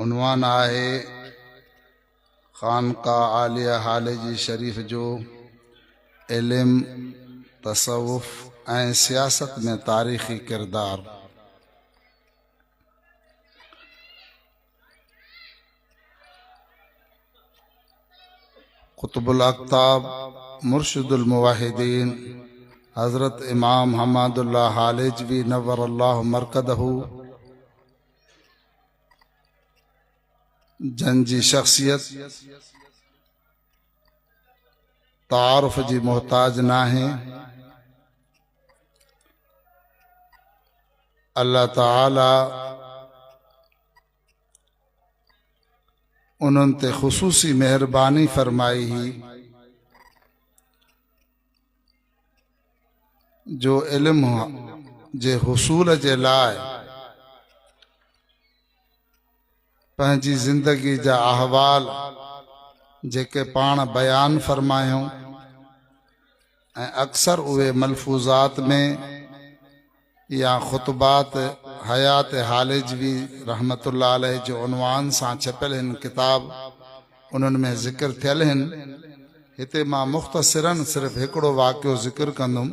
عنوان آهي خانقاهه عاليه هاليجي شريف جو علم تصوف ۽ سياست ۾ تاريخي ڪردار قطب الاقتاب مرشد الموحدين حضرت امام حماد الله حالجوي نور الله مرقده جن جي شخصيت تعارف جي محتاج ناهي الله تعالي انهن تي خصوصي مهرباني فرمائي هي جو علم جي حصول جي لاء پنهنجي زندگي جا احوال جيڪي پاڻ بيان فرمايون ۽ اڪثر اهي ملفوظات ۾ يا خطبات حيات هالجوي رحمة الله عليه جي عنوان سان ڇپيل هن ڪتاب انهن ۾ ذڪر ٿيل هن. هتي مان مختصراً صرف هڪڙو واقعو ذڪر ڪندم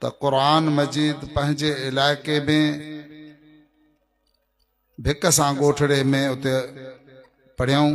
ته قرآن مجيد پنهنجي علائقي ۾ ڀڪ سان ڳوٺڙي ۾ اتي پڙهيائون.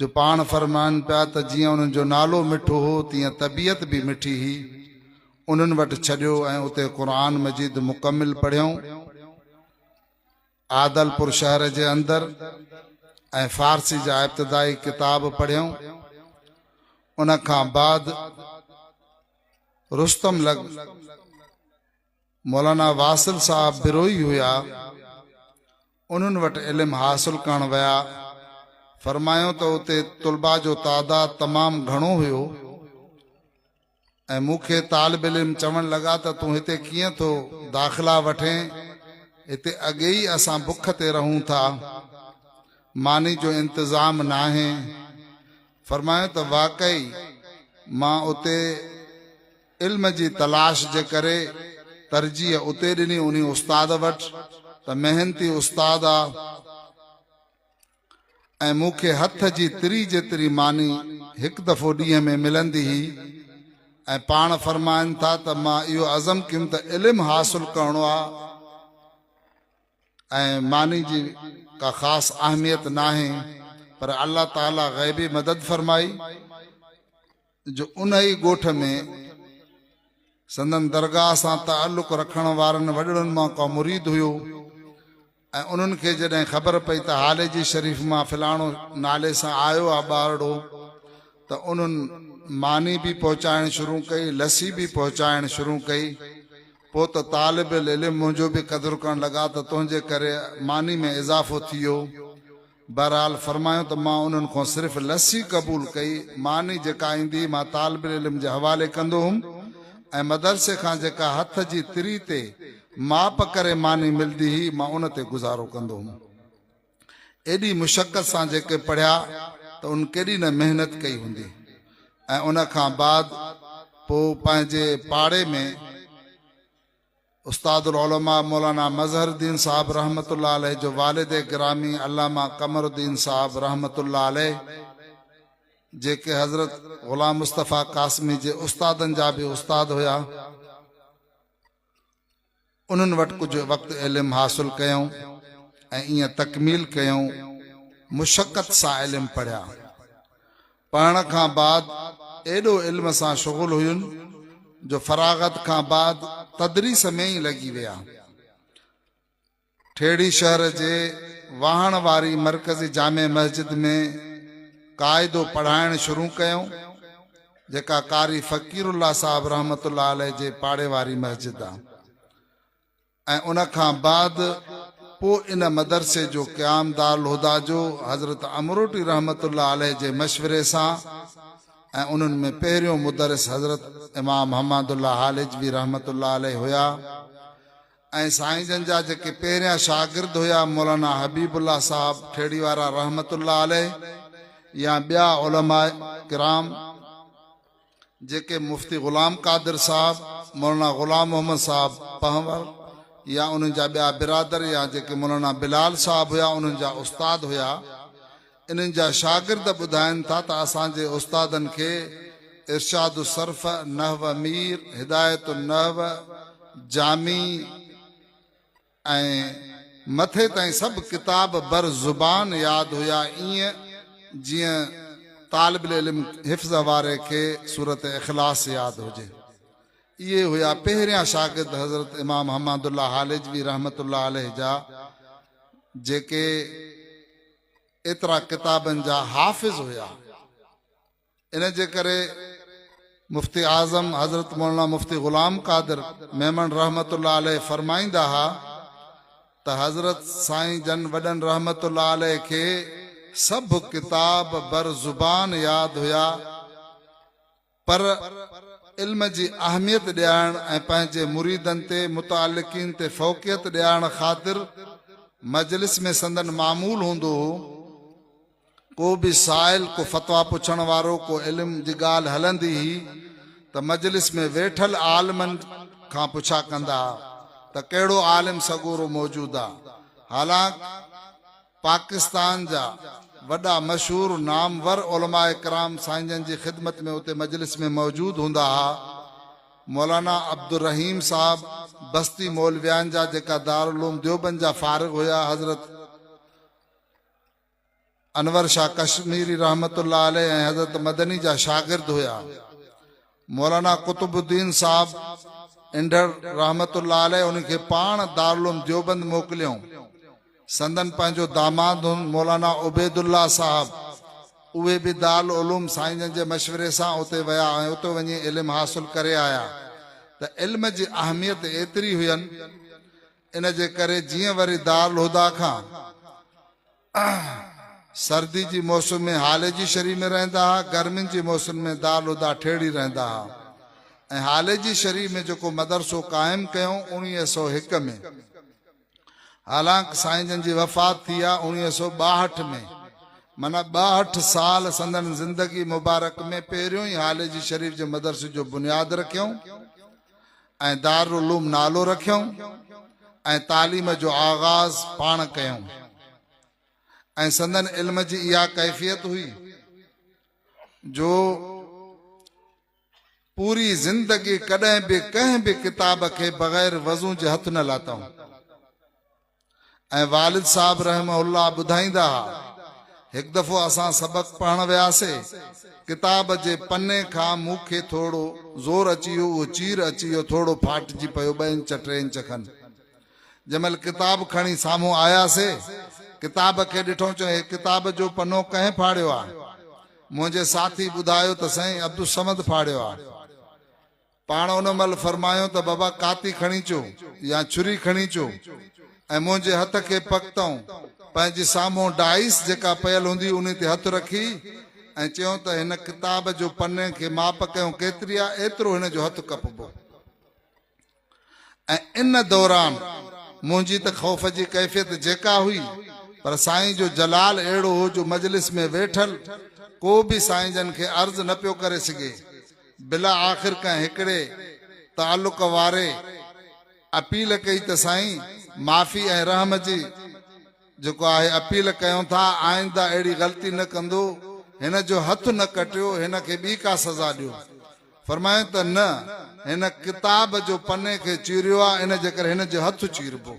جو پاڻ فرمائن پيا ته جيئن انهن جو نالو مٺو هو تيئن طبيعت به مٺي هئي انهن وٽ ڇڏيو ۽ اتي قرآن مجيد مڪمل پڙهيائون عادلپور شهر جي اندر ۽ فارسي جا ابتدائي ڪتاب پڙهيائون ان کان بعد رستم لڳ مولانا واصل صاحب بروهي هيا، انهن وٽ علم حاصل ڪرڻ ويا، فرمايائون ته اتي طلباء جو تعداد تمام گهڻو هيو ۽ مون کي طالب علم چوڻ لڳا ته تون هتي ڪيئن ٿو داخلا وٺين، هتي اڳي ئي اسان بک تي رهون ٿا، ماني جو انتظام ناهي. فرمايائون ته واقعي مان اتي. علم جي تلاش جي ڪري ترجيح اتي ڏني انهي استاد وٽ ته محنتي استاد آ ۽ مون کي هٿ جي تري جيتري ماني هڪ دفعو ڏينهن ۾ ملندي هئي ۽ پاڻ فرمائن ٿا ته مان اهو عزم ڪيم ته علم حاصل ڪرڻو آ ۽ ماني جي ڪا خاص اهميت ناهي پر الله تعالي غيبي مدد فرمائي جو ان ئي ڳوٺ ۾ سندن درگاهه سان تعلق رکڻ وارن وڏڙن مان ڪو مريد هيو ۽ انهن کي جڏهن خبر پئي ته هاليجي شريف مان فلاڻو نالي سان آيو آ ٻارڙو ته انهن ماني به پهچائڻ شروع ڪئي لسي به پهچائڻ شروع ڪئي پوء ته طالب العلم منهنجو به قدر ڪرڻ لڳا ته تنهنجي ڪري ماني ۾ اضافو ٿي ويو بهرحال فرمايو ته مان انهن کان صرف لسي قبول ڪئي، ماني جيڪا ايندي مان طالب العلم جي حوالي ڪندو هئم ۽ مدرسي کان جيڪا هٿ جي تري تي ماپ ڪري ماني ملدي هئي مان ان تي گذارو ڪندو هئم. ايڏي مشقت سان جيڪي پڙهيا ته ان ڪيڏي نه محنت ڪئي هوندي ۽ ان کان بعد پوء پنهنجي پاڙي ۾ استاد العلماء مولانا مظهر الدين صاحب رحمة الله عليه جو والد گرامي علامه قمر الدين صاحب رحمة الله عليه جيڪي حضرت غلام مصطفيٰ قاسمي جي استادن جا به استاد هيا انهن وٽ ڪجهه وقت علم حاصل ڪيون ۽ ائين تڪميل ڪيون مشقت سان علم پڙهيا پڙهڻ کان بعد ايڏو علم سان شغل هين جو فراغت کان بعد تدريس ۾ ئي لڳي ويا. ٺيڙهي شهر جي واهڻ واري مرڪزي جامع مسجد ۾ قاعدو پڙهائڻ شروع ڪيو، جيڪا قاري فقير الله صاحب رحمة الله عليه جي پاڙي واري مسجد آ. ۽ ان کان بعد پوء ان مدرسي جو قيام دارالهديٰ جو حضرت امروٽي رحمة الله عليه جي مشوري سان ۽ انهن ۾ پهريون مدرس حضرت امام حماد الله هالجوي رحمة الله عليه هيا ۽ سائين جن جا جيڪي پهريان شاگرد هيا مولانا حبيب الله صاحب کهڙي وارا رحمة الله عليه يا ٻيا علماء ڪرام جيڪي مفتي غلام قادر صاحب، مولانا غلام محمد صاحب پنهور يا انهن جا ٻيا برادر يا جيڪي مولانا بلال صاحب هيا انهن جا استاد هيا انهن جا شاگرد ٻڌائين ٿا ته اسان جي استادن کي ارشاد الصرف، نحو مير، هدايت النحو، جامي، ۽ مٿي تائين سڀ ڪتاب بر زبان ياد هيا ائين جيئن طالب العلم حفظ واري کي سورت اخلاص ياد هجي اهي هيا پهريان شاگرد حضرت امام حماد الله حالجوي رحمت الله عليه جا جيڪي ايترا ڪتابن جا حافظ هيا ان جي ڪري مفتي اعظم حضرت مولانا مفتي غلام قادر ميمڻ رحمة الله عليه فرمائيندا ها ته حضرت سائين جن وڏن رحمة الله عليه کي سڀ ڪتاب بر زبان ياد هيا پر علم جي اهميت ڏيارڻ ۽ پنهنجي مريدن تي متعلقين تي فوقيت ڏيارڻ خاطر مجلس ۾ سندن معمول هوندو هو ڪو به سائل، ڪو فتويٰ پڇڻ وارو، ڪو علم جي ڳالهه هلندي هئي ته مجلس ۾ ويٺل عالمن کان پڇا ڪندا ها ته ڪهڙو عالم سڳورو موجود آ. حالانڪ پاڪستان جا وڏا مشهور نامور علماء ڪرام سائين جن جي خدمت ۾ اتي مجلس ۾ موجود هوندا ها. مولانا عبدالرحيم صاحب بستي مولويان جا جيڪا دارالعلوم ديوبند جا فارغ هيا حضرت انور شاهه ڪشميري رحمة الله عليه ۽ حضرت مدني جا شاگرد هيا. مولانا قطب الدين صاحب انڍڙ رحمة الله عليه انهن کي پاڻ دارالعلوم ديوبند موڪليائون. سندن پنهنجو داماد هن مولانا عبيد الله صاحب اهي به دارالعلوم سائين جن جي مشوري سان اتي ويا ۽ اتي وڃي علم حاصل ڪري آيا ته علم جي اهميت ايتري هين ان جي ڪري جيئن وري دارالهديٰ کان سردي جي موسم ۾ هالي جي شري ۾ رهندا ها، گرمين جي موسم ۾ دارالهديٰ ٺيڙهي رهندا ها ۽ هالي جي شري ۾ جيڪو مدرسو قائم ڪيائون اوڻيهه سؤ هڪ ۾ حالانڪ سائين جن جي وفات ٿي آ اوڻيهه سؤ ٻاهٺ ۾ معنيٰ ٻاهٺ سال سندن زندگي مبارڪ ۾ پهريون ئي هالي جي شريف جي مدرسي جو بنياد رکيائون. ۽ دارالعلوم نالو رکيائون ۽ تعليم جو آغاز پاڻ ڪيائون ۽ سندن علم جي اها ڪيفيت هئي جو پوري زندگي ڪڏهن به ڪنهن به ڪتاب کي بغير وضو جي هٿ نه لاتائون ۽ والد صاحب رحمه الله ٻڌائيندا ها، هڪ دفعو اسان سبق پڙهڻ وياسي، ڪتاب جي پني کان مون کي ٿورڙو زور اچي ويو، اهو چير اچي ويو، ٿورڙو ڦاٽجي پيو ٻه انچ ٽي انچ کن. جنهن مهل ڪتاب کڻي سامهون آياسي، ڪتاب کي ڏٺئون، چيائون هي ڪتاب جو پنو ڪنهن ڦاڙيو آهي؟ منهنجي ساٿي ٻڌايو ته سائين عبدالصمد ڦاڙيو آهي. پاڻ ان مهل فرمايو ته بابا ڪاتي کڻي اچو يا ڇري کڻي اچو ۽ منهنجي هٿ کي پڪتئون پنهنجي سامهون ڊائس جيڪا پيل هوندي انهي تي هٿ رکي ۽ چيون ته هن ڪتاب جو پني کي ماپ ڪيون ڪيتري آ ايترو هن جو هٿ ڪپبو ۽ ان دوران منهنجي ته خوف جي ڪيفيت جيڪا هئي پر سائين جو جلال اهڙو هو جو مجلس ۾ ويٺل ڪو به سائين جن کي عرض نه پيو ڪري سگهي بلا آخر ڪنهن هڪڙي تعلق واري اپيل ڪئي ته سائين معافي ۽ رحم جي جيڪو آهي اپيل ڪيون ٿا آئنده اهڙي غلطي نه ڪندو هن جو هٿ نه ڪٽيو هن کي ٻي ڪا سزا ڏيو فرمايون ته نه هن ڪتاب جو پني کي چيريو آهي ان جي ڪري هن جو هٿ چيربو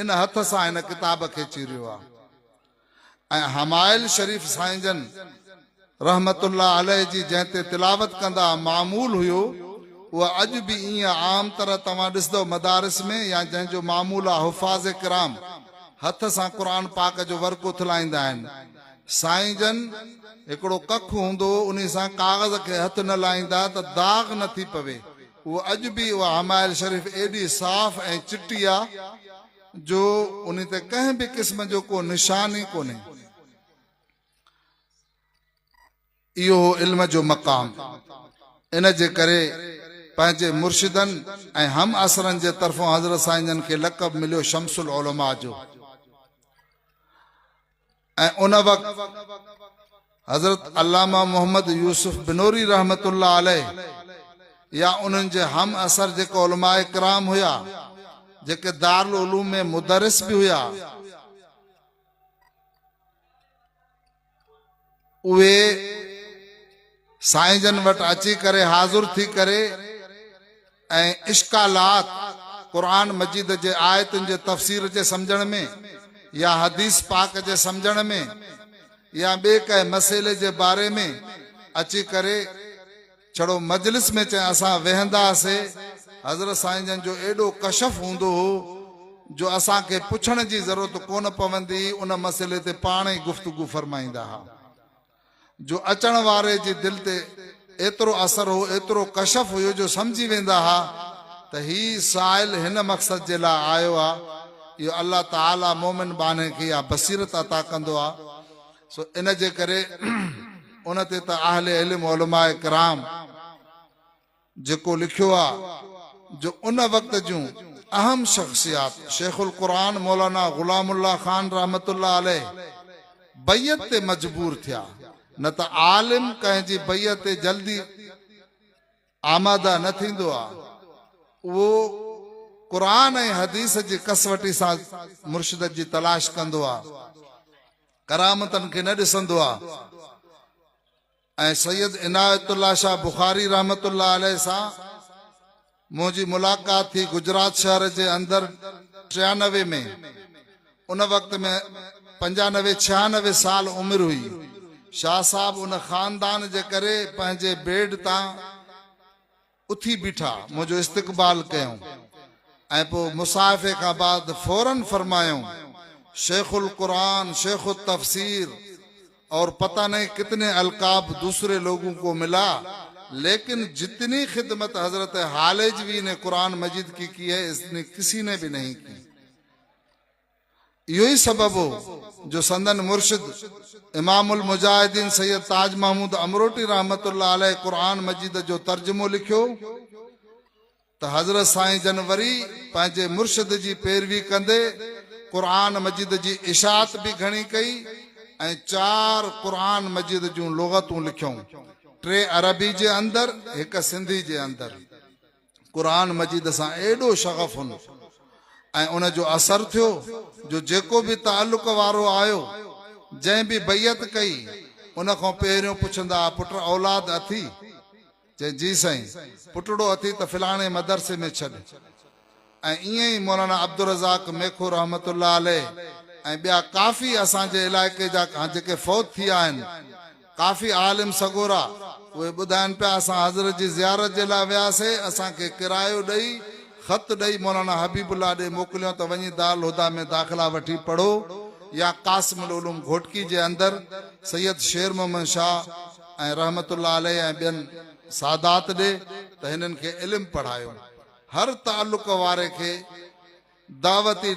ان هٿ سان هن ڪتاب کي چيريو آهي. ۽ حمائل شريف سائين جن رحمة الله عليه جي جنهن تي تلاوت ڪندا معمول هيو اهو اڄ به ايئن عام طرح توهان ڏسدؤ مدارس ۾ يا جنهن جو معمول آ حفاظ ڪرام هٿ سان قرآن پاڪ جو ورق اٿلائيندا آهن سائين جن هڪڙو ڪک هوندو هو انهي سان ڪاغذ کي هٿ نه لائيندا ته داغ نه ٿي پوي اهو اڄ به اها حمائل شريف ايڏي صاف ۽ چٽي آ جو انهي تي ڪنهن به قسم جو ڪو نشان ئي ڪونهي. اهو هو علم جو مقام. ان جي ڪري پنهنجي مرشدن ۽ همعصرن جي طرفون حضرت سائين جن کي لقب مليو شمس العلماء جو. ۽ ان وقت حضرت علامه محمد يوسف بنوري رحمة الله عليه يا انهن جي هم عصر جيڪي علماء ڪرام هيا جيڪي دارالعلوم ۾ مدرس به هيا اهي سائين جن وٽ اچي ڪري حاضر ٿي ڪري ۽ اشڪالات، قرآن مجيد جي آيتن جي تفسير جي سمجهڻ ۾ يا حديث پاڪ جي سمجهڻ ۾ يا ٻئي ڪنهن مسئلي جي باري ۾ اچي ڪري ڇڙو مجلس ۾ چئي اسان ويهندا سي حضرت سائين جن جو ايڏو ڪشف هوندو هو جو اسان کي پڇڻ جي ضرورت ڪونه پوندي هئي ان مسئلي تي پاڻ ئي گفتگو فرمائيندا ها جو اچڻ واري جي دل تي ايترو اثر هو، ايترو ڪشف هيو جو سمجهي ويندا ها ته هي سائل هن مقصد جي لاء آيو آ. اهو الله تعالي مؤمن ٻانهي کي اها بصيرت عطا ڪندو آ. سو ان جي ڪري ان تي ته اهل علم علماء ڪرام. جيڪو لکيو آ جو ان وقت جون اهم شخصيات شيخ القرآن مولانا غلام الله خان رحمة الله عليه بيعت تي مجبور ٿيا نه ته عالم ڪنهن جي بيعت تي جلدي آماده نه ٿيندو آ اهو قرآن ۽ حديث جي ڪسوٽي سان مرشدت جي تلاش ڪندو آ ڪرامتن کي نه ڏسندو آ ۽ سيد عنايت الله شاهه بخاري رحمة الله عليه سان منهنجي ملاقات ٿي گجرات شهر جي اندر ٽيانوي ۾ ان وقت ۾ پنجانوي ڇهانوي سال عمر هئي شاهه صاحب ان خاندان جي ڪري پنهنجي بيڊ تان اٿي بيٺا، منهنجو استقبال ڪيائون ۽ پوء مصاحفي کان بعد فوراً فرمايائون، شيخ القرآن، شيخ التفسير اور پتا نهين ڪتني القاب دوسري لوگون ڪو ملا ليڪن جتني خدمت حضرت هاليجوي ني قرآن مجيد ڪي ڪي هي اتني ڪسي ني بي نهين ڪي. اهو ئي سبب هو جو سندن مرشد امام المجاهدين سيد تاج محمود امروٽي رحمة الله عليه قرآن مجيد جو ترجمو لکيو ته حضرت سائين جن وري پنهنجي مرشد جي پيروي ڪندي قرآن مجيد جي اشاعت به گهڻي ڪئي ۽ چار قرآن مجيد جون لغتون لکيون ٽي عربي جي اندر هڪ سنڌي جي اندر. قرآن مجيد سان ايڏو شغف هن ۽ ان جو اثر ٿيو جو جيڪو به تعلق وارو آيو جنهن به بيعت ڪئي ان کان پهريون پڇندا ها پٽ اولاد اٿي؟ چئي جي سائين پٽڙو اٿي ته فلاڻي مدرسي ۾ ڇڏ ۽ ائين ئي مولانا عبدالرزاق ميخو رحمة الله عليه ۽ ٻيا ڪافي اسان جي علائقي جا جيڪي فوت ٿي آهن ڪافي عالم سڳورا، اهي ٻڌائن پيا اسان حضرت جي زيارت جي لاء وياسي، اسان کي ڪرايو ڏئي، خط ڏئي مولانا حبيب الله ڏي موڪليون ته وڃي دارالهديٰ ۾ داخلا وٺي پڙهو يا قاسم العلوم گهوٽڪي جي اندر سيد شير محمد شاهه ۽ رحمة الله عليه ۽ ٻين سادات ڏي ته هنن کي علم پڙهايو. هر تعلق واري کي. دعوتي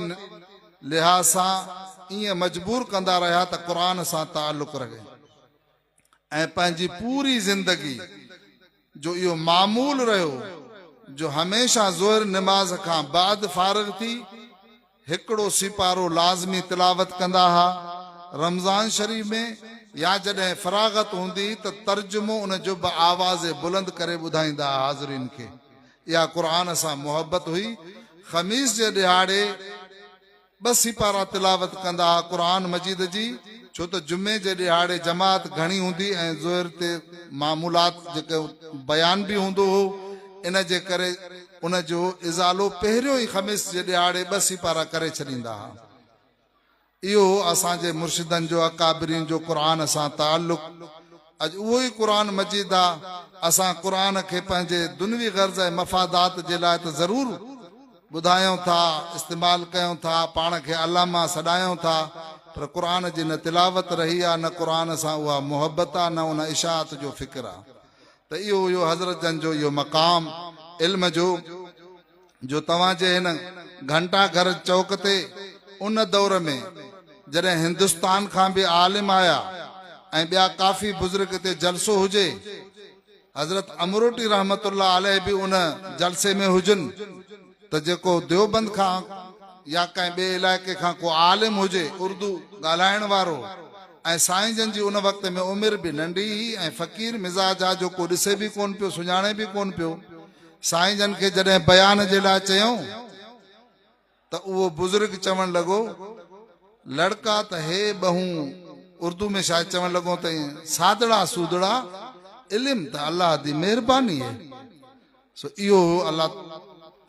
لحاظ سان ائين مجبور ڪندا رهيا ته قرآن سان تعلق رهي ۽ پنهنجي پوري زندگي جو اهو معمول رهيو جو هميشه ظهر نماز کان بعد فارغ ٿي هڪڙو سيپارو لازمي تلاوت ڪندا ها رمضان شريف ۾ يا جڏهن فراغت هوندي ته ترجمو ان جو به آواز بلند ڪري ٻڌائيندا ها حاضرين کي اها قرآن سان محبت هئي. خميس جي ڏهاڙي ٻه سيپارا تلاوت ڪندا ها قرآن مجيد جي، ڇو ته جمعي جي ڏهاڙي جماعت گهڻي هوندي ۽ ظهر تي معمولات جو ڪو بيان به هوندو هو، ان جي ڪري ان جو ازالو پهريون ئي خميس جي ڏهاڙي ٻه سيپارا ڪري ڇڏيندا ها. اهو اسان جي مرشدن جو اڪابرين جو قرآن سان تعلق اڄ اهو ئي قرآن مجيد آ اسان قرآن کي پنهنجي دنوي غرض ۽ مفادات جي لاء ته ضرور ٻڌايون ٿا استعمال ڪيون ٿا پاڻ کي علامه سڏايون ٿا پر قرآن جي نه تلاوت رهي آ نه قرآن سان اها محبت آ نه ان اشاعت جو فڪر آ ته اهو هيو حضرت جن جو اهو مقام علم جو جو توهان جي هن گهنٽا گهر چوڪ تي ان دور ۾ جڏهن هندستان کان به عالم آيا ۽ ٻيا ڪافي بزرگ اتي جلسو هجي، حضرت امروٽي رحمة الله عليه به ان جلسي ۾ هجن ته جيڪو ديوبند کان يا ڪنهن ٻئي علائقي کان ڪو عالم هجي اردو ڳالهائڻ وارو ۽ سائين جن جي ان وقت ۾ عمر به ننڍي هئي ۽ فقير مزاج آ جو ڪو ڏسي به ڪون پيو سڃاڻي به ڪون پيو سائين جن کي جڏهن بيان جي لاء چيائون ته اهو بزرگ چوڻ لڳو لڙڪا ته هي ٻهون اردو ۾ شايد چوڻ لڳو ته سادڙا سودڙا علم ته الله دي مهرباني هي سو اهو هو الله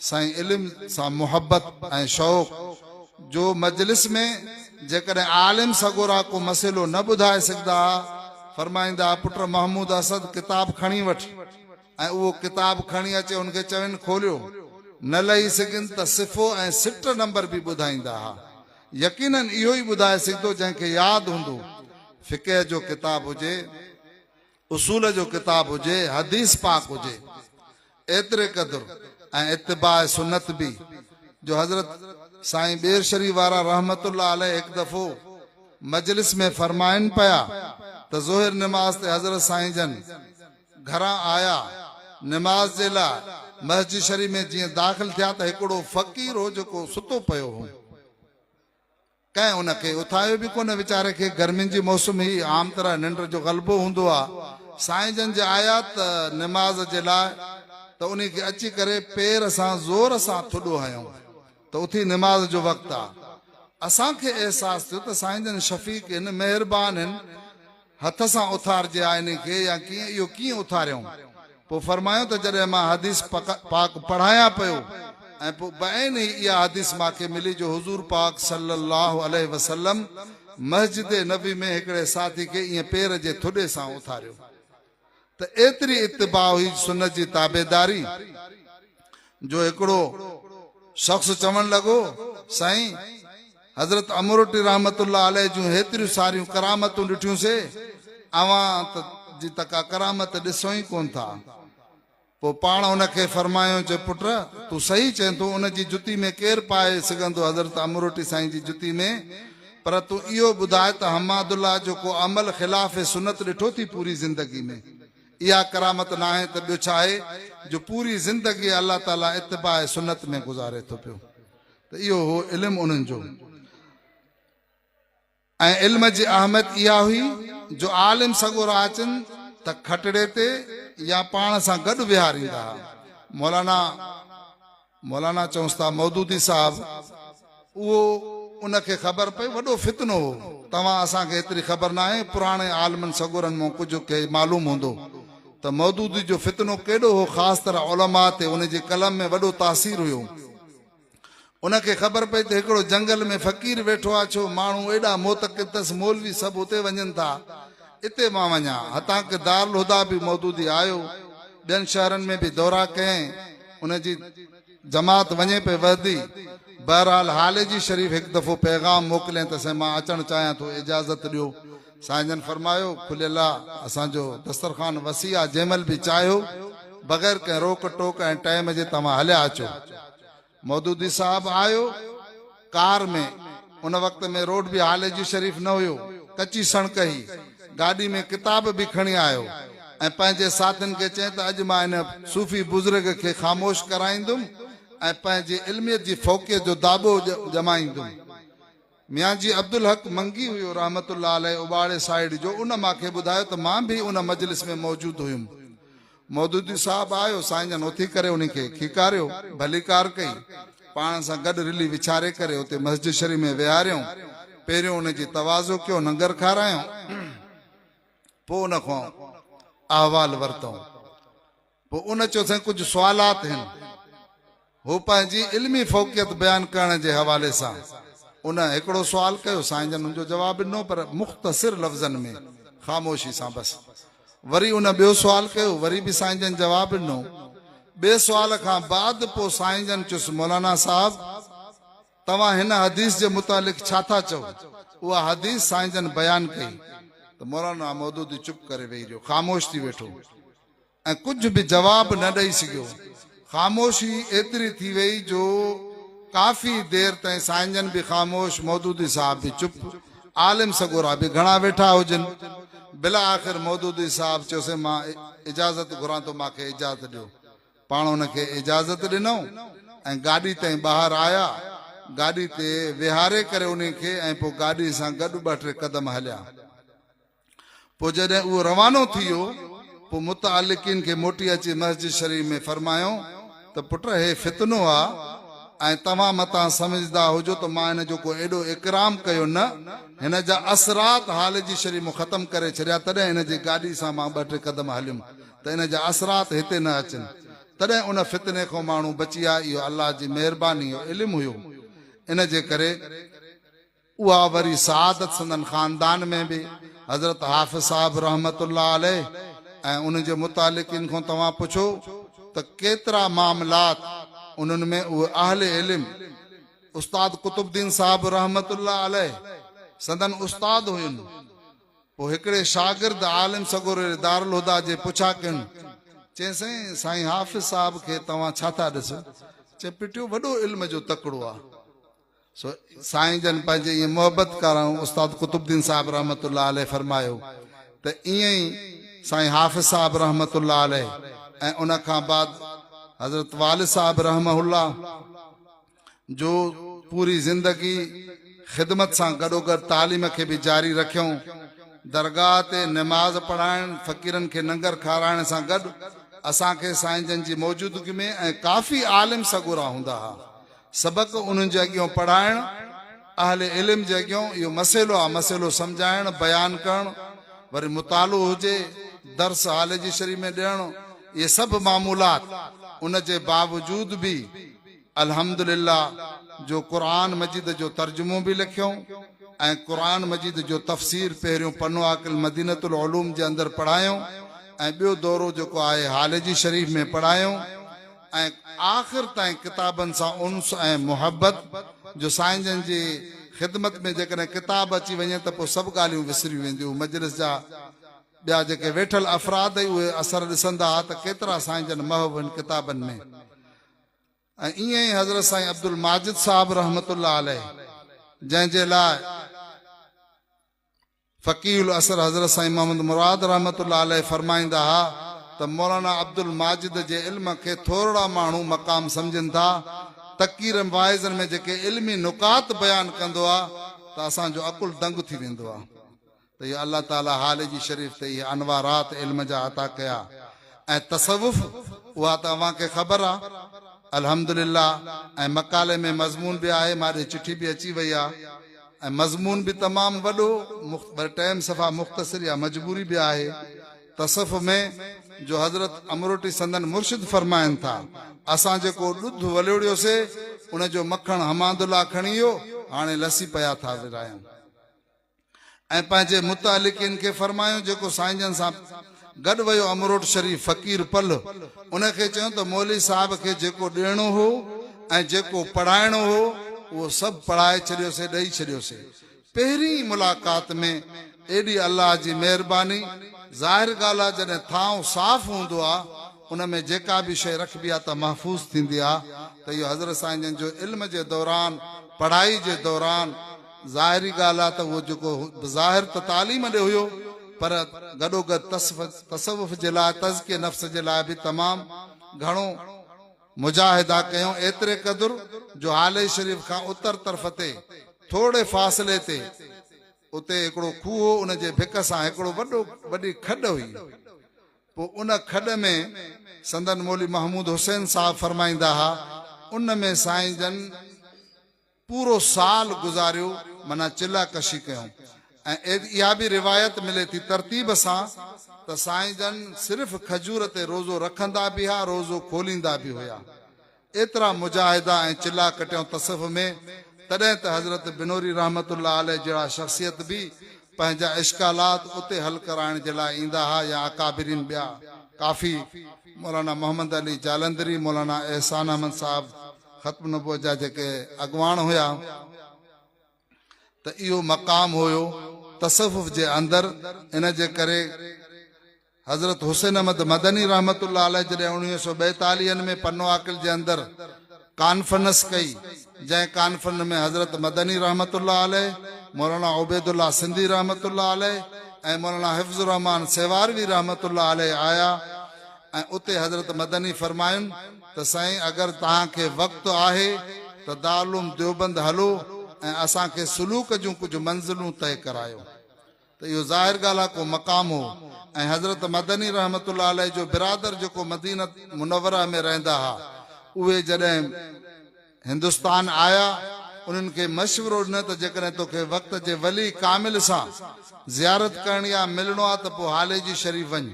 سائين علم سان محبت ۽ شوق جو مجلس ۾ جيڪڏهن عالم سڳورا ڪو مسئلو نه ٻڌائي سگهندا ها فرمائيندا ها پٽ محمود اسد ڪتاب کڻي وٺ ۽ اهو ڪتاب کڻي اچي هن کي چوين کوليو، نه لهي سگهين ته صفحو ۽ سٽ نمبر به ٻڌائيندا ها. يقيناً اهو ئي ٻڌائي سگهندو جنهن کي ياد هوندو. فقه جو ڪتاب هجي، اصول جو ڪتاب هجي، حديث پاڪ هجي. ايتري قدر ۽ اتباع سنت به جو حضرت سائين ٻير شريف وارا رحمة الله عليه هڪ دفعو مجلس ۾ فرمائن پيا ته ظهر نماز تي حضرت سائين جن گهران آيا، نماز جي لاء مسجد شريف ۾ جيئن داخل ٿيا ته هڪڙو فقير هو جيڪو ستو پيو هو. ڪنهن ان کي اٿايو به ڪونه، ويچاري کي گرمين جي موسم هئي، عام طرح ننڊ جو غلبو هوندو آ. سائين جن جي آيا ته نماز جي لاء ته انهي کي اچي ڪري پير سان زور سان ٿڏو هنيو ته اٿي نماز جو وقت آ. اسان کي احساس ٿيو ته سائين جن شفيق هن، مهربان هن، هٿ سان اٿارجي آئيني کي يا ڪيئن اهو ڪيئن اٿاريائون؟ پوء فرمايو ته جڏهن مان حديث پاڪ پڙهايان پيو ۽ پوء بعينه ئي اها حديث مان کي ملي جو حضور پاڪ صلّي اللّٰه عليه وسلّم مسجد نبوي ۾ هڪڙي ساٿي کي ائين پير جي ٿڏي سان اٿاريو ته ايتري اتباع هئي سنت جي تابعداري جو هڪڙو شخص چوڻ لڳو سائين حضرت امروٽي رحمت الله عليه جون هيتريون ساريون ڪرامتون ڏٺيون سي اوهان ته جي ته ڪا ڪرامت ڏسو ئي ڪون ٿا پوء پاڻ ان کي فرمايو چي پٽ تون صحيح چئين ٿو ان جي جتي ۾ ڪير پائي سگهندو حضرت امروٽي سائين جي جتي ۾ پر تون اهو ٻڌاء ته حماد الله جو ڪو عمل خلاف سنت ڏٺو ٿي پوري زندگي ۾؟ اها ڪرامت ناهي ته ٻيو ڇاهي جو پوري زندگي الله تعالي اتباع سنت ۾ گذاري ٿو پيو ته اهو هو علم انهن جو ۽ علم جي اهميت اها هئي جو عالم سڳورا اچن ته کٽڙي تي يا پاڻ سان گڏ ويهاريندا هئا مولانا مولانا چونس ٿا مودودي صاحب اهو ان کي خبر پئي وڏو فتنو هو توهان اسان کي ايتري خبر ناهي پراڻي عالمن سڳورن مون ڪجهه کي معلوم هوندو ته مودودي جو فتنو ڪيڏو هو خاص طرح علماء تي ان جي قلم ۾ وڏو تاثير هيو ان کي خبر پئي ته هڪڙو جنگل ۾ فقير ويٺو آ ڇو ماڻهو ايڏا معتقد تس مولوي سڀ اتي وڃن ٿا اتي مان وڃان هتان ڪي دارالهديٰ به مودودي آيو ٻين شهرن ۾ به دورا ڪيائين ان جي جماعت وڃي پئي وهدي. بهرحال حال جي شريف هڪ دفعو پيغام موڪلين ته سائين مان اچڻ چاهيان ٿو اجازت ڏيو. سائين جن فرمايو کليل آ اسان جو دسترخوان وسيع آ جنهن مهل به چاهيو بغير ڪنهن روڪ ٽوڪ ۽ ٽائيم جي توهان هليا اچو. مودودي صاحب آيو. ڪار ۾، ان وقت ۾ روڊ به هالي جي شريف نه هيو، ڪچي سڻڪ هئي، گاڏي ۾ ڪتاب به کڻي آيو ۽ پنهنجي ساٿين کي چئي ته اڄ مان ان صوفي بزرگ کي خاموش ڪرائيندم ۽ پنهنجي علميت جي فوقيت جو داٻو ڄمائيندم. ميان جي عبدالحق منگي هيو رحمة الله عليه اباڙي سائيڊ جو، ان مان کي ٻڌايو ته مان به ان مجلس ۾ موجود هيم. مودودي صاحب آيو، سائين جن اٿي ڪري انهي کي کيڪاريو، ڀليڪار ڪئي، پاڻ سان گڏ رلي وڇاري ڪري اتي مسجد شريف ۾ ويهاريائون، پهريون ان جي تواضع ڪيو، ننگر کارايائون، پوء ان کان احوال ورتائون، پوء ان چيو سائين ڪجهه سوالات هن. هو پنهنجي علمي فوقيت بيان ڪرڻ جي حوالي سان ان هڪڙو سوال ڪيو، سائين جن ان جو جواب ڏنو پر مختصر لفظن ۾ خاموشي سان بس. وري ان ٻيو سوال ڪيو، وري به سائين جن جواب ڏنو. ٻئي سوال کان بعد پوء سائين جن چيس، مولانا صاحب! توهان هن حديث جي متعلق ڇا ٿا چئو؟ اها حديث سائين جن بيان ڪئي ته مولانا مودودي چپ ڪري ويهي رهيو، خاموش ٿي ويٺو. ۽ ڪجهه به جواب نه ڏئي سگهيو. خاموشي ايتري ٿي وئي جو ڪافي دير تائين سائين جن به خاموش، مودودي صاحب به چپ، عالم سڳورا به گهڻا ويٺا هجن. بلاآخر مودودي صاحب چيوسين مان اجازت گهران ٿو مان کي اجازت ڏيو. پاڻ هن کي اجازت ڏنئون ۽ گاڏي تائين ٻاهر آيا. گاڏي تي ويهاري ڪري انهي کي ۽ پوء گاڏي سان گڏ ٻه ٽي قدم هليا. پوء جڏهن اهو روانو ٿي ويو، پوء متعلقين کي موٽي اچي مسجد شريف ۾ فرمايائون ته پٽ هي فتنو آ ۽ توهان متان سمجهدا هجو ته مان هن جو ڪو ايڏو اڪرام ڪيو نه، هن جا اثرات حال جي شريف مون ختم ڪري ڇڏيا تڏهن هن جي گاڏي سان مان ٻه ٽي قدم هليم ته ان جا اثرات هتي نه اچن، تڏهن ان فتني کان ماڻهو بچي آ، اهو الله جي مهرباني جو علم هيو، ان جي ڪري. اها وري سعادت سندن خاندان ۾ به حضرت حافظ صاحب رحمة الله عليه ۽ انهن جي متعلقين کان توهان پڇو ته ڪيترا معاملات انهن ۾ اهي اهل علم استاد قطب الدين صاحب رحمة الله عليه سندن استاد هين پوء هڪڙي شاگرد عالم سڳوري دارالهديٰ جي پڇا ڪين چين سائين سائين حافظ صاحب کي توهان ڇا ٿا ڏسو چين پٽيو وڏو علم جو تڪڙو آ. سو سائين جن پنهنجي ائين محبت ڪارائون استاد قطب الدين صاحب رحمة الله عليه فرمايو ته ائين ئي سائين حافظ صاحب رحمة الله عليه ۽ ان کان بعد حضرت والد صاحب رحمه الله جو پوري زندگي خدمت سان گڏوگڏ تعليم کي به جاري رکيائون درگاهه تي نماز پڙهائڻ فقيرن کي ننگر کارائڻ سان گڏ اسان کي سائين جن جي موجودگي ۾ ۽ ڪافي عالم سڳورا هوندا ها سبق انهن جي اڳيون پڙهائڻ، اهل علم جي اڳيون اهو مسئلو آ مسئلو سمجهائڻ، بيان ڪرڻ، وري مطالعو هجي، درس هالي جي شرح ۾ ڏيڻ، اهي سڀ معمولات ان جي باوجود به الحمد لله جو قرآن مجيد جو ترجمو به لکيئون ۽ قرآن مجيد جو تفسير پهريون پنو عاقل مدينة العلوم جي اندر پڙهايئون ۽ ٻيو دورو جيڪو آهي هالي جي شريف ۾ پڙهايئون. ۽ آخر تائين ڪتابن سان انس ۽ محبت، جو سائين جن جي خدمت ۾ جيڪڏهن ڪتاب اچي وڃي ته پوء سڀ ڳالهيون وسريون وينديون، مجلس جا ٻيا جيڪي ويٺل افراد ئي اهي اثر ڏسندا ها ته ڪيترا سائين جن محو هن ڪتابن ۾. ۽ ائين ئي حضرت سائين عبدالماجد صاحب رحمة الله عليه جنهن جي لاء. فقيه العصر حضرت سائين محمد مراد رحمة الله عليه فرمائيندا ها ته مولانا عبدالماجد جي علم کي ٿورڙا ماڻهو مقام سمجهن ٿا، تقير واعظن ۾ جيڪي علمي نقاط بيان ڪندو آ ته اسان جو عقل دنگ ٿي ويندو آ ته اهي الله تعالي هاليجي شريف تي اهي انوارات علم جا عطا ڪيا ۽ تصوف اها ته اوهان کي خبر آ الحمدلله ۽ مقالي ۾ مضمون به آهي ماڏي چٺي به اچي وئي آ. ۽ مضمون به تمام وڏو مخت پر ٽيم صفا مختصر يا مجبوري به آهي تصف ۾ جو حضرت امروٽي سندن مرشد فرمائن ٿا اسان جيڪو ڏڌ وليوڙيو سي ان جو مکڻ حمادالله کڻي ايو هاڻي لسي پيا ٿا ورايون ۽ پنهنجي متعلقين کي فرمايون جيڪو سائين جن سان گڏ ويو امروٽ شريف فقير پل ان کي چيو ته مولوي صاحب کي جيڪو ڏيڻو هو ۽ جيڪو پڙهائڻو هو اهو سڀ پڙهائي ڇڏيوسي ڏئي ڇڏيوسي پهرين ئي ملاقات ۾ ايڏي الله جي مهرباني ظاهر ڳالهه آ جڏهن ٿانو صاف هوندو آ ان ۾ جيڪا به شيء رکبي آ ته محفوظ ٿيندي آ ته اهو حضرت سائين جن جو علم جي دوران پڙهائي جي دوران ظاهري ڳالهه آهي ته اهو جيڪو بظاهر ته تعليم ڏي هيو پر گڏوگڏ تصوف جي لاء تزڪيي نفس جي لاء به تمام گهڻو مجاهدا ڪيون ايتري قدر جو هالي شريف کان اتر طرف تي ٿورڙي فاصلي تي اتي هڪڙو کوهه هو ان جي ڀڪ سان هڪڙو وڏو وڏي کڏ هئي پوء ان کڏ ۾ سندن مولوي محمود حسين صاحب فرمائيندا ها ان ۾ سائين جن پورو سال گذاريو معنيٰ چلهه ڪشي ڪيون ۽ اها به روايت ملي ٿي ترتيب سان ته سائين جن صرف کجور تي روزو رکندا به ها روزو کوليندا به هيا ايترا مجاهدا ۽ چلها ڪٽيون تصوف ۾ تڏهن ته حضرت بنوري رحمة الله عليه جهڙا شخصيت به پنهنجا اشڪالات اتي حل ڪرائڻ جي لاء ايندا ها يا اڪابرين ٻيا ڪافي مولانا محمد علي جالندري مولانا احسان احمد صاحب ختم نبوت جا جيڪي اڳواڻ هيا ته اهو مقام هيو تصوف جي اندر ان جي ڪري حضرت حسين احمد مدني رحمت الله عليه جڏهن اڻويهه سو ٻيتاليهن ۾ پنو عاقل جي اندر ڪانفرنس ڪئي جنهن ڪانفرنس ۾ حضرت مدني رحمت الله عليه مولانا عبيد الله سنڌي رحمت الله عليه ۽ مولانا حفظ الرحمان سيواروي رحمت الله عليه آيا ۽ اتي حضرت مدني فرماين ته سائين اگر توهان کي وقت آهي ته دارالعلوم ديوبند هلو ۽ اسان کي سلوڪ جون ڪجهه منزلون طئي ڪرايو ته اهو ظاهر ڳالهه آهي ڪو مقام هو ۽ حضرت مدني رحمة الله عليه جو برادر جيڪو مدينة منوره ۾ رهندا ها اهي جڏهن هندستان آيا انهن کي مشورو ڏنو ته جيڪڏهن توکي وقت جي ولي ڪامل سان زيارت ڪرڻي آهي ملڻو آهي ته پوء هاليجي شريف وڃ.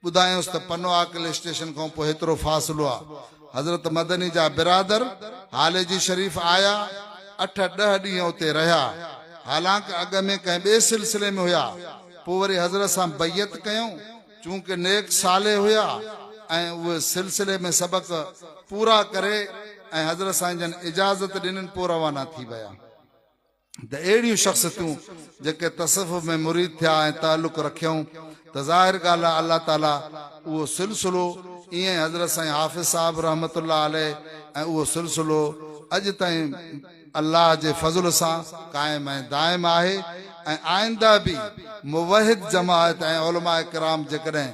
ٻڌايونس ته پنو عاقل اسٽيشن کان پوء هيترو فاصلو آ. حضرت مدني جا برادر هاليجي شريف آيا، اٺ ڏهه ڏينهن اتي رهيا. حالانڪ اڳ ۾ ڪنهن ٻئي سلسلي ۾ هيا، پوء وري حضرت سان بيعت ڪيائون، چونڪه نيڪ صالح هيا ۽ اهي سلسلي ۾ سبق پورا ڪري ۽ حضرت سائين جن اجازت ڏنن پوء روانا ٿي ويا. ته اهڙيون شخصيتون جيڪي تصوف ۾ مريد ٿيا ۽ تعلق رکيائون ته ظاهر ڳالهه آهي الله تعاليٰ اهو سلسلو ائين حضرت سائين حافظ صاحب رحمة الله عليه ۽ اهو سلسلو اڄ تائين الله جي فضل سان قائم ۽ دائم آهي ۽ آئنده به موحد جماعت ۽ علماء ڪرام جيڪڏهن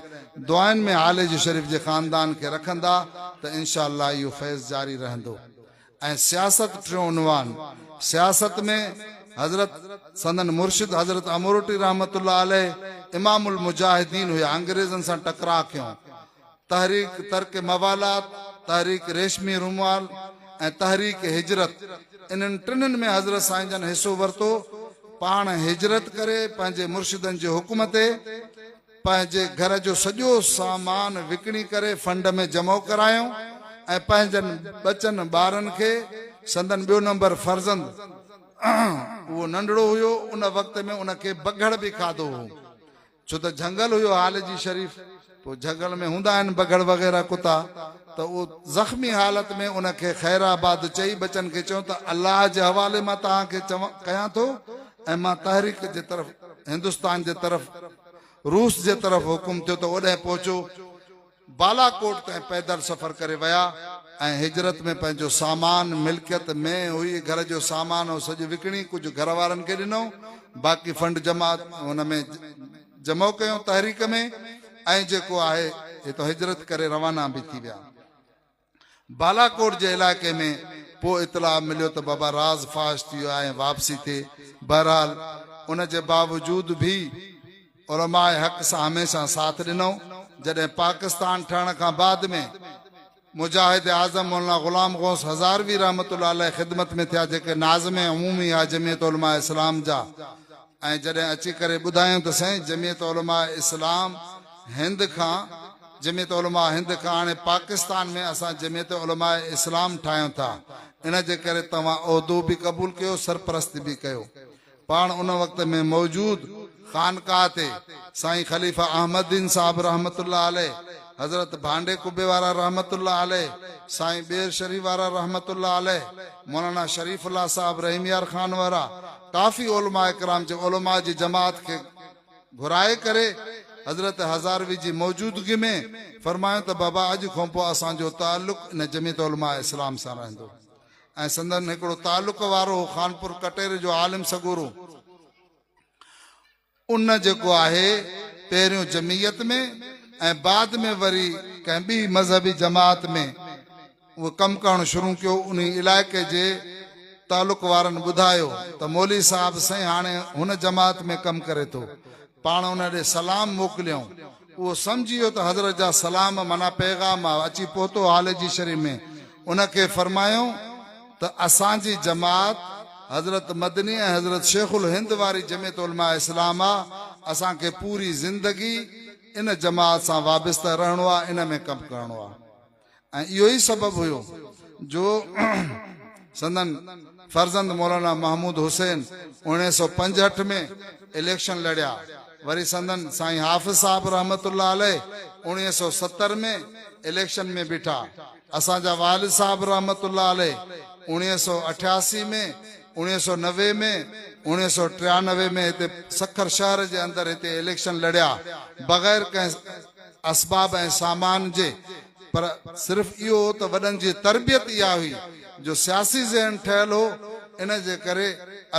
دعائن ۾ هاليجو شريف جي خاندان کي رکندا ته انشاء الله اهو فيض جاري رهندو ۽ سياست ٽيون عنوان سياست ۾ حضرت سندن مرشد حضرت امروٽي رحمة الله عليه امام المجاهدين هيا انگريزن سان ٽڪراء ڪيون تحريڪ ترڪ موالات تحريڪ ريشمي رومال ۽ تحريڪ هجرت انهن ٽنهن ۾ حضرت سائين جن حصو ورتو پاڻ هجرت ڪري پنهنجي مرشدن جي حڪم تي پنهنجي گهر جو سڄو سامان وڪڻي ڪري فنڊ ۾ جمع ڪرايو ۽ پنهنجن ٻچن ٻارن کي سندن ٻيو نمبر فرزند اهو ننڍڙو هيو ان وقت ۾ ان کي بگهڙ به کاڌو هو ڇو ته جهنگل هيو حال جي شريف پوء جهنگل ۾ هوندا آهن بگهڙ وغيره ڪتا ته اهو زخمي حالت ۾ ان کي خير آباد چئي ٻچن کي چيو ته الله جي حوالي مان توهان کي چوان ڪيان ٿو ۽ مان تحريڪ جي طرف هندستان جي طرف روس جي طرف حڪم ٿيو ته اوڏهن پهچو. بالاڪوٽ تائين پيدل سفر ڪري ويا ۽ هجرت ۾ پنهنجو سامان، ملڪيت مين هئي، گهر جو سامان هو سڄ وڪڻي ڪجهه گهر وارن کي ڏنو، باقي فنڊ جمع هن ۾ جمع ڪيو تحريڪ ۾ ۽ جيڪو آهي هتان هجرت ڪري روانا به ٿي ويا. بالاڪوٽ جي علائقي ۾ پوء اطلاع مليو ته بابا راز فاش ٿي ويو آهي ۽ واپسي تي بهرحال ان جي باوجود به علماء حق سان هميشه ساٿ ڏنو جڏهن پاڪستان ٺهڻ کان بعد ۾ مجاهد اعظم مولانا غلام غوث هزاروي رحمة الله عليه خدمت ۾ ٿيا جيڪي ناظم عمومي آهي جمعيت علماء اسلام جا ۽ جڏهن اچي ڪري ٻڌايائون ته سائين جمعيت علماء اسلام هند کان جمعيت علماء هند کان هاڻي پاڪستان ۾ اسان جمعيت علماء اسلام ٺاهيون ٿا ان جي ڪري توهان عهدو به قبول ڪيو سرپرستي به ڪيو پاڻ ان وقت ۾ موجود خانقاهه تي سائين خليفه احمد دين صاحب رحمت الله عليه حضرت ڀانڊي قبي وارا رحمت الله عليه سائين ٻير شريف وارا رحمت الله عليه مولانا شريف الله صاحب رحيميار خان وارا ڪافي علماء ڪرام جي علماء جي جماعت کي گهرائي ڪري حضرت هزاروي جي موجودگي ۾ فرمايو ته بابا اڄ کان پوء اسان جو تعلق ان جميعت علماء اسلام سان رهندو ۽ سندن هڪڙو تعلق وارو هو خانپور ڪٽيري جو عالم سڳورو ان جيڪو آهي پهريون جمعيت ۾ ۽ بعد ۾ وري ڪنهن ٻي مذهبي جماعت ۾ اهو ڪم ڪرڻ شروع ڪيو انهي علائقي جي تعلق وارن ٻڌايو ته مولوي صاحب سائين هاڻي هن جماعت ۾ ڪم ڪري ٿو پاڻ ان ڏي سلام موڪليائون اهو سمجهي ويو ته حضرت جا سلام معنيٰ پيغام اچي پهتو حال جي شرح ۾ ان کي فرمايائون ته اسان جي جماعت حضرت مدني ۽ حضرت شيخ الهند واري جمعيت علماء اسلام آ اسان کي پوري زندگي ان جماعت سان وابسته رهڻو آ ان ۾ ڪم ڪرڻو آ. ۽ اهو ئي سبب هيو جو سندن فرزند مولانا محمود حسين اوڻيهه سؤ پنجهٺ ۾ اليڪشن لڙيا، وري سندن سائين حافظ صاحب رحمة الله عليه اوڻيهه سؤ ستر ۾ اليڪشن ۾ بيٺا، اسان جا والد صاحب رحمة الله عليه اوڻيهه سؤ اٺياسي ۾ اوڻيهه سؤ نوي ۾ اوڻيهه سؤ ٽيانوي ۾ هتي سکر شهر جي اندر هتي اليڪشن لڙيا بغير ڪنهن اسباب ۽ سامان جي پر صرف اهو هو ته وڏن جي تربيت اها هئي جو سياسي ذهن ٺهيل هو ان جي ڪري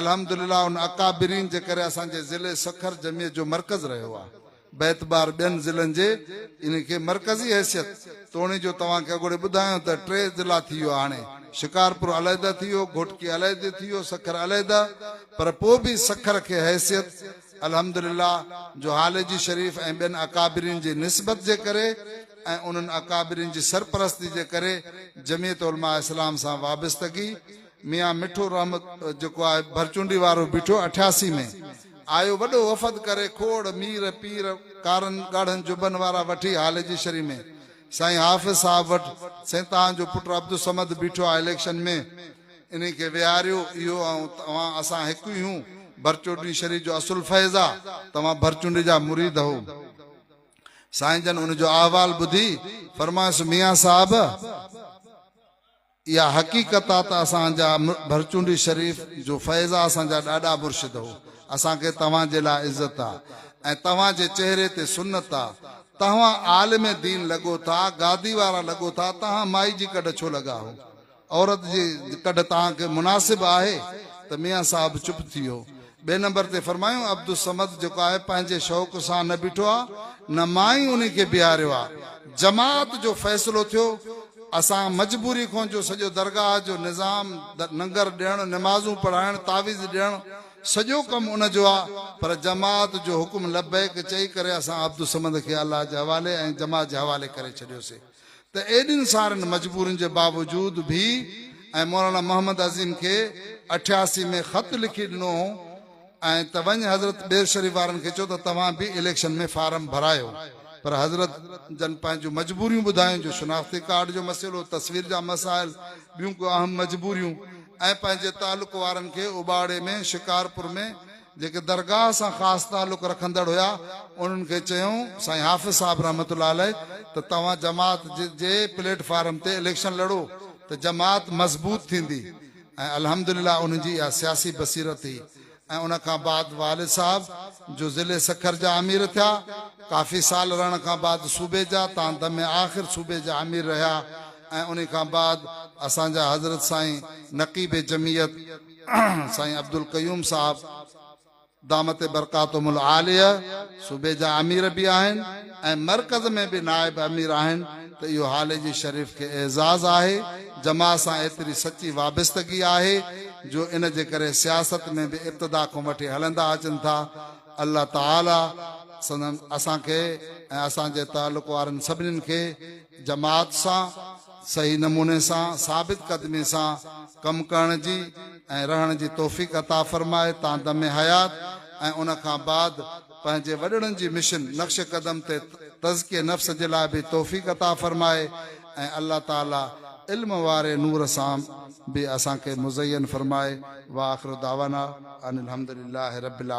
الحمد لله ان اڪابرين جي ڪري اسان جي ضلعي سکر جمعيت جو مرڪز رهيو آهي باعتبار ٻين ضلعن جي ان کي مرڪزي حيثيت توڻي جو توهان کي اڳوڻي ٻڌايو ته ٽي ضلعا ٿي ويو هاڻي شڪارپور عليحده ٿي ويو گهوٽڪي عليحدي ٿي ويو سکر عليحده پر پوء به سکر کي حيثيت الحمد لله جو هاليجي شريف ۽ ٻين اڪابرين جي نسبت جي ڪري ۽ انهن اڪابرين جي سرپرستي جي ڪري جميعت علماء اسلام سان وابستگي ميان مٺو رحمت جيڪو آهي ڀرچونڊي وارو بيٺو اٺياسي ۾ آيو وڏو وفد ڪري کوڙ مير پير ڪارن ڳاڙهن جبن وارا وٺي هاليجي شريف ۾ سائين حافظ صاحب وٽ سين تان جو پٽ عبدالصمد بيٺو آهي اليڪشن ۾ انهي کي ويهاريو، اهو ۽ توهان اسان هڪ ئي هيون، ڀرچوٽڻي شريف جو اصل فيض آ، توهان ڀرچونڊي جا مريد هئو. سائين جن ان جو احوال ٻڌي، فرمايس ميان صاحب! اها حقيقت آ ته اسان جا ڀرچونڊي شريف جو فيض آ، اسان جا ڏاڏا مرشد هئو، اسان کي توهان جي لاء عزت آ ۽ توهان جي چهري تي سنت آ، تهوان عالم دين لڳو ٿا، گادي وارا لڳو ٿا، تهان مائي جي ڪڍ ڇو لڳا هئو؟ عورت جي ڪڍ تان کي مناسب آهي ته ميان صاحب چپ ٿي ويو. ٻئي نمبر تي فرمايون عبدالصمد جيڪو آهي پنهنجي شوق سان نه بيٺو آ نه مان ئي انهي کي بيهاريو آ. جماعت جو فيصلو ٿيو. اسان مجبوري کون جو سڄو درگاهه جو نظام ننگر ڏيڻ نمازون پڙهائڻ تعويذ ڏيڻ سڄو ڪم ان جو آ پر جماعت جو حڪم لبيڪ چئي ڪري اسان عبدالصمد کي الله جي حوالي ۽ جماعت جي حوالي ڪري ڇڏيوسي. ته ايڏين سارين مجبورين جي باوجود به ۽ مولانا محمد عظيم کي اٺياسي ۾ خط لکي ڏنو هو ۽ ته وڃ حضرت ٻير شريف وارن کي چئو ته توهان به اليڪشن ۾ فارم ڀرايو پر حضرت جن پنهنجون مجبوريون ٻڌايون جو شناختي ڪارڊ جو مسئلو، تصوير جا مسائل، ٻيون ڪو اهم مجبوريون ۽ پنهنجي تعلق وارن کي اوٻاڙي ۾ شڪارپور ۾ جيڪي درگاهه سان خاص تعلق رکندڙ هيا، انهن کي چيائون، سائين حافظ صاحب رحمة الله عليه ته توهان جماعت جي پليٽ فارم تي اليڪشن لڙو ته جماعت مضبوط ٿيندي ۽ الحمد لله انهن جي اها سياسي بصيرت هئي ۽ ان کان بعد والد صاحب جو ضلعي سکر جا امير ٿيا ڪافي سال رهڻ کان بعد صوبي جا تان دم آخر صوبي جا امير رهيا ۽ انهي کان بعد اسان جا حضرت سائين نقيب جمعيت سائين عبدالقيوم صاحب دامت برڪاتهم العاليه صوبي جا امير به آهن ۽ مرڪز ۾ به نائب امير آهن ته اهو هاليجي شريف کي اعزاز آهي جماعت سان ايتري سچي وابستگي آهي جو ان جي ڪري سياست ۾ به ابتدا کون وٺي هلندا اچن ٿا الله تعالي سندن اسان کي ۽ اسان جي تعلق وارن سڀنين کي جماعت سان صحيح نموني سان ثابت قدمي سان ڪم ڪرڻ جي ۽ رهڻ جي توفيق عطا فرمائي تان دم حيات ۽ ان کان بعد پنهنجي وڏڙن جي مشن نقش قدم تي تزڪيي نفس جي لاء به توفيق عطا فرمائي ۽ الله تعالي علم واري نور سان به اسان کي مزين فرمائي واخر دعوانا ان الحمدلله رب العا.